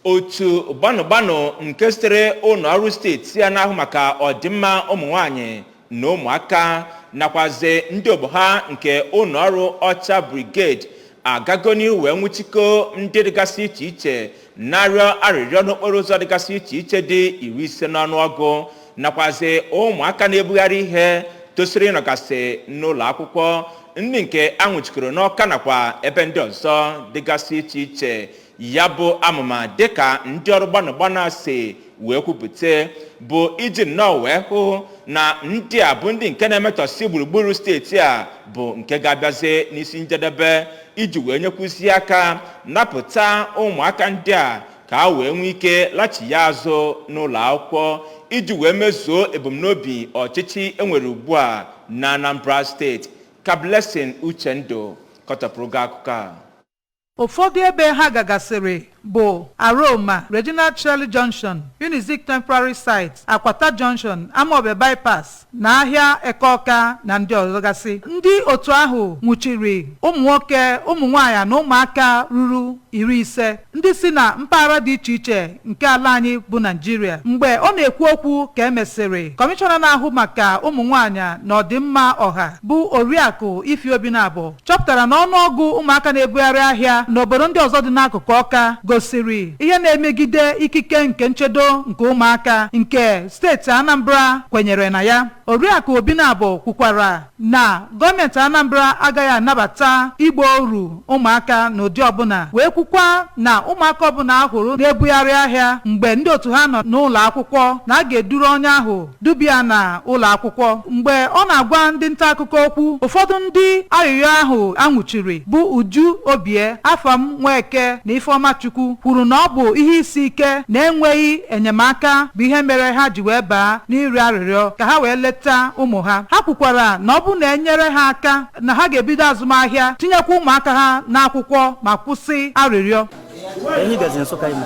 otu gbanụgbanụ nke sitere ụlọ ọrụ steeti a na-ahụ maka ọdịmma ụmụ nwanyị na ụmụaka nakwazi ndị ogbo ha nke ụlọ ọrụ ọcha brigade agago n'ihu wee nwụchikọ ndị dịgasị iche iche na-arịọ arịrịọ n'okporo ụzọ dịgasị iche iche dị iri ise n'ọnụọgụ nakwazi ụmụaka na-ebugharị ihe tosiri ịnọgasị n'ụlọ akwụkwọ ndị nke a nwụchikọrọ n'ọka nakwa ebe ndị ọzọ dịgasị iche iche Ya bụ amụma dịka ndị ọrụ gbanụ gbanụ a si wee kwupụta bụ iji nnọọ wee hụ na ndị a bụ ndị nke na-emetọsị gburugburu steeti a bụ nke ga-abịazi n'isi njedebe iji wee nyekwuzi aka napụta ụmụaka ndị a ka ha wee nwee ike lachie azụ n'ụlọ akwụkwọ iji wee mezuo ebumnobi ọchịchị enwere ugbu a na Anambra steeti ka Blessing Uchendụ kọtọpụrụ gị akụkọ a Ụfọdụ ebe ha gagasịrị bụ Aroma, Regina Caeli Junction, Unizik Temporary Site, Akwata Junction, Amawbia Bypass na ahịa Eke Ọka na ndị ọzọgasị. Ndị otu ahụ nwụchiri ụmụnwoke, ụmụnwaanyị na ụmụaka ruru iri ise ndị si na mpaghara dị iche iche nke ala anyị bụ Naijiria. Mgbe ọ na-ekwu okwu ka e mesịrị, Kọmishọna na-ahụ maka ụmụnwaanyị na ọdịmma ọha bụ Oriakụ Ify Obinabo chọpụtara na ọnụọgụ ụmụaka na-ebugharị ahịa n'obodo ndị ọzọ dị n'akụkụ ọka gosiri ihe na-emegide ikike nke nchedo nke ụmụaka nke steeti anambra kwenyere na ya oriakụ obinabo kwukwara na gọọmenti anambra agaghị anabata ịgba oru ụmụaka n'ụdị ọbụla wee kwukwa na ụmụaka ọbụla a hụrụ na-ebugharị ahịa mgbe ndị otu ha nọ n'ụlọ akwụkwọ na a ga-eduru onye ahụ duba ya na ụlọ akwụkwọ. Mgbe ọ na-agwa ndị nta akụkọ okwu, ụfọdụ ndị arịrịọ ahụ a nwụchiri bụ Uju Obie, Afam Nweke na Ifeoma Chukwu kwuru na ọ bụ ihe isi ike na enweghị enyemaka bụ ihe mere ha ji wee baa n'ịrịọ arịrịọ ka ha wee leta ụmụ ha. Ha kwukwara na ọ bụrụ na e nyere ha aka na ha ga-ebido azụmahịa tinyekwa ụmụaka ha n'akwụkwọ ma kwụsị arịrịọ. Ehi bịazi Nsụka ime.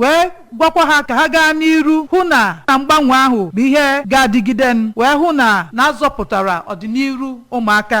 wee gwakwa ha ka ha gaa n'iru hụ na na mgbanwe ahụ bụ ihe ga-adịgide wee hụ na na a zọpụtara ọdịniru ụmụaka